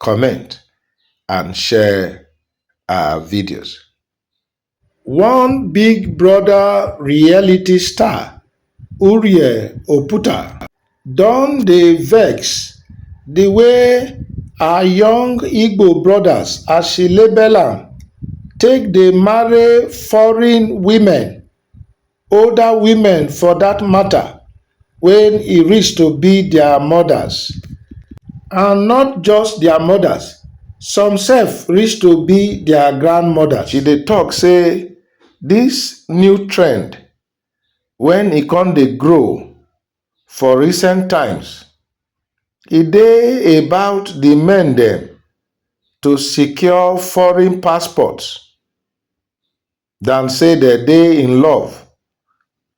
comment and share our videos. One Big Brother reality star, Urie Oputa, don dey vex the way our young Igbo brothers, as she label am, take dey marry foreign women older women for dat mata wen e reach to be dia mothers and not just dia mothers some sef reach to be dia grandmothers. She dey tok say dis new trend wen e come dey grow for recent times e dey about di men dem to secure foreign passports dan say dem dey in love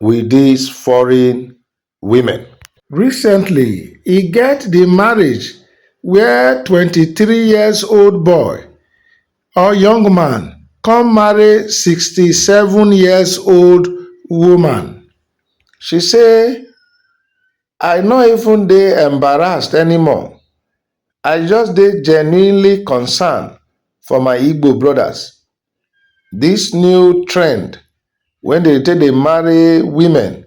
wit dis foreign women. Recently, e get di marriage wia twenty three years old boy or young man come marry sixty seven years old woman. She say, I no even dey embarrassed anymore, I just dey genuinely concerned for my Igbo brodas. This new trend wey dem take dey marry women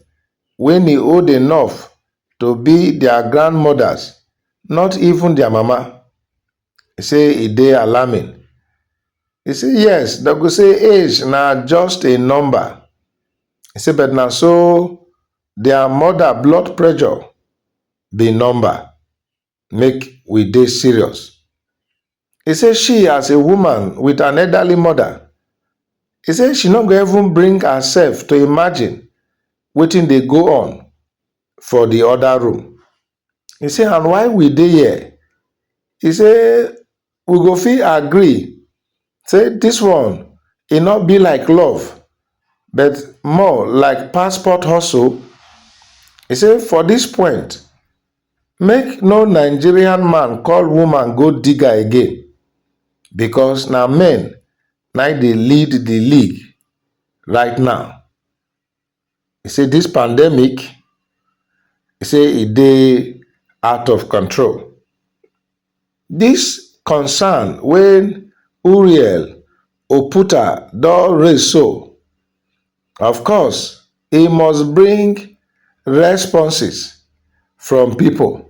wey e old enough to be their grandmothers, not even their mama, e say e dey alarming. E say yes, dem go say age na just a number, e say but na so their mother blood pressure be number. make we dey serious. He say she as a woman with an elderly mother, he say she no go even bring herself to imagine wetin dey go on for the other room. He say and while we dey here, he say we go fit agree say dis one e no be like love but more like passport hustle e say for dis point make no nigerian man call woman gold digger again becos na men na dey lead di league right now. e say dis pandemic e say e dey out of control. Dis concern wey Uriel Oputa don raise so, of course e must bring responses from pipo.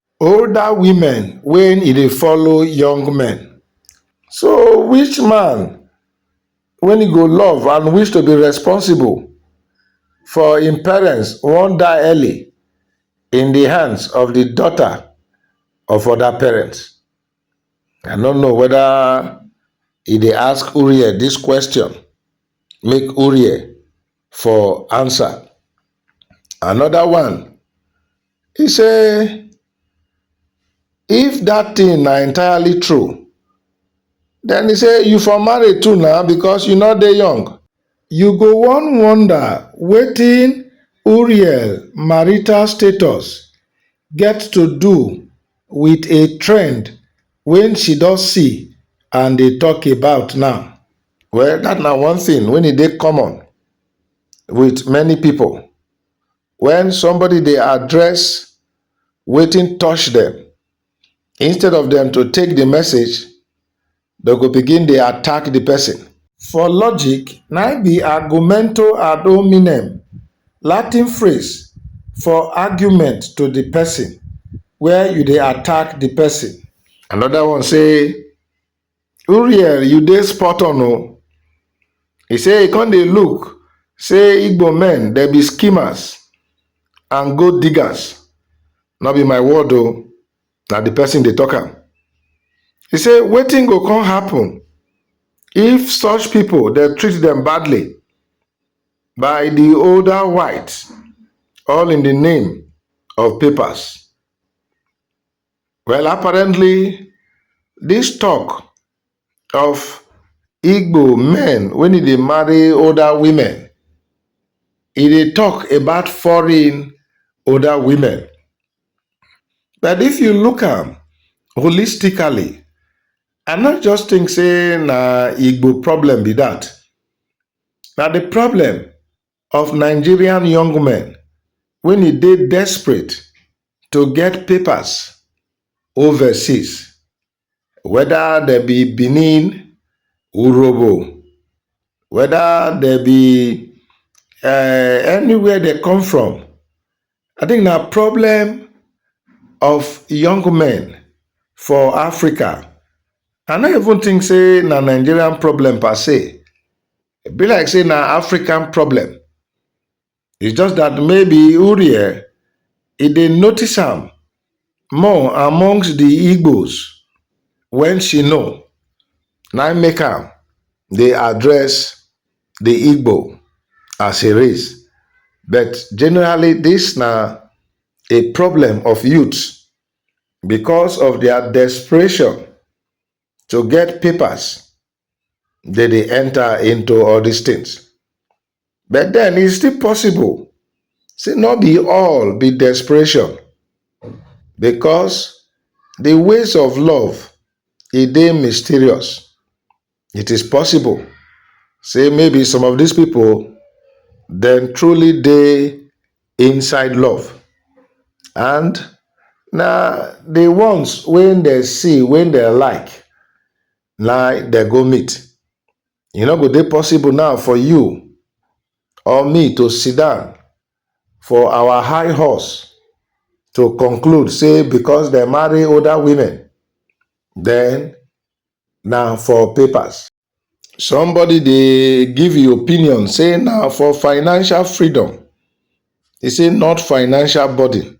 Older women wen e dey follow young men so which man wen e go love and wish to be responsible for im parents wan die early in di hands of di daughter of oda parents. I no know weda e dey ask Uriel dis question make Uriel for answer. Another one, he say if that thing na entirely true, then he say you for marry too now because you no dey young. You go wan wonder wetin Uriel marital status get to do with a trend wey she don see and dey talk about now. Well that na one thing when e dey common with many people when somebody dey address wetin touch them instead of them to take the message dem go begin dey attack the person. For logic na im be argumento ad hominem latin phrase for argument to the person where you dey attack the person. Another one say Uriel, you dey spot on o. Oh. He say he come dey look say Igbo men dem be schemers and gold diggers. No be my word o, oh. na the person dey talk am. He say wetin go come happen if such people dey treat them badly by the older whites all in the name of papers. Well, apparently, this talk of Igbo men when they marry older women, e dey talk about foreign older women. But if you look am holistically, I not just think say na Igbo problem be that. Now the problem of nigerian young men wey e dey desperate to get papers overseas, whether dem be Benin, Urhobo, whether dem be um anywhere dem come from. I think na problem of young men for Africa. I no even think sey na Nigerian problem per se. E be like say na African problem. It's just that maybe Uriel, e dey notice am more amongst the Igbos when she know. Na im make am dey address the Igbo as a race. But generally, this na a problem of youths because of their desperation to get papers They dey enter into all these things. But then it's still possible. Say not be all be desperation. Because the ways of love, it dey mysterious. It is possible. Say maybe some of these people, then truly dey inside love. And na the ones when they see, when they like, na dem go meet. E no go dey possible now for you or me to sit down for our high horse to conclude say because dem marry older women, then na for papers. Somebody dey give e opinion say na for financial freedom, e say not financial burden.